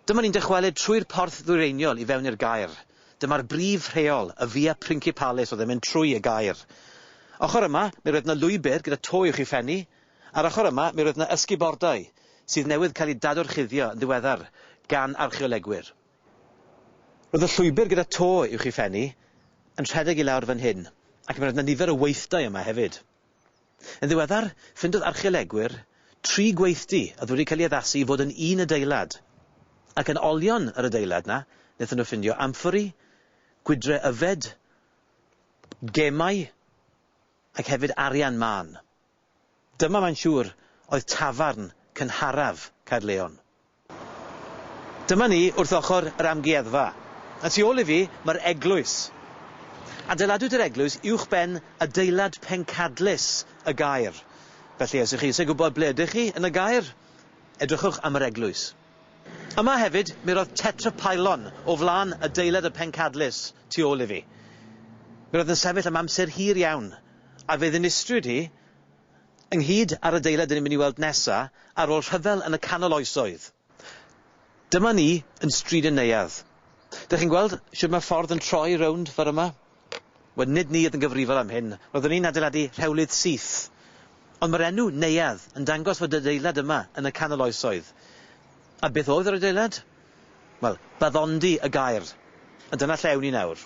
Dyma ni'n dychwelyd trwy'r porth ddwyreiniol i fewn i'r gaer. Dyma'r brif rheol, y Via Principalis oedd yn mynd trwy y gaer. Ochr yma, mi roedd yna lwybr gyda to i'w chi phennu. Ar ochr yma, mi roedd yna ysgubordai, sydd newydd cael eu dadorchuddio yn ddiweddar gan archeolegwyr. Roedd y llwybr gyda to uwch i Fenny yn rhedeg i lawr fan hyn, ac mi roedd 'na nifer o weithdai yma hefyd. Yn ddiweddar, ffindodd archeolegwyr tri gweithdy oedd wedi cael ei addasu i fod yn un adeilad, ac yn olion yr adeilad 'na wnaethon nhw ffindio amffori, gwydre yfed, gemau, ac hefyd arian mân. Dyma mae'n siŵr oedd tafarn cynharaf Caerleon. Dyma ni wrth ochr yr amgueddfa. Y tu ôl i fi, mae'r eglwys. Adeiladwyd yr eglwys uwchben adeilad pencadlys y gaer. Felly, os ych chi eisiau gwybod ble ydych chi yn y gaer, edrychwch am yr eglwys. Yma hefyd, mi roedd tetrapylon o flaen adeilad y pencadlys tu ôl i fi. Mi roedd yn sefyll am amser hir iawn, a fe ddinistriwyd hi ynghyd â'r adeilad dyn ni'n mynd i weld nesa' ar ôl rhyfel yn y canol oesoedd. Dyma ni yn Stryd y Neuadd. Dych chi'n gweld shwd mae'r ffordd yn troi rownd ffor yma? Wel, nid ni oedd yn gyfrifol am hyn, roeddwn ni'n adeiladu rhewlydd syth. Ond mae'r enw 'Neuadd' yn dangos fod adeilad yma yn y canol oesoedd. A beth oedd yr adeilad? Wel, baddondi y gair. A dyna lle ewn ni nawr.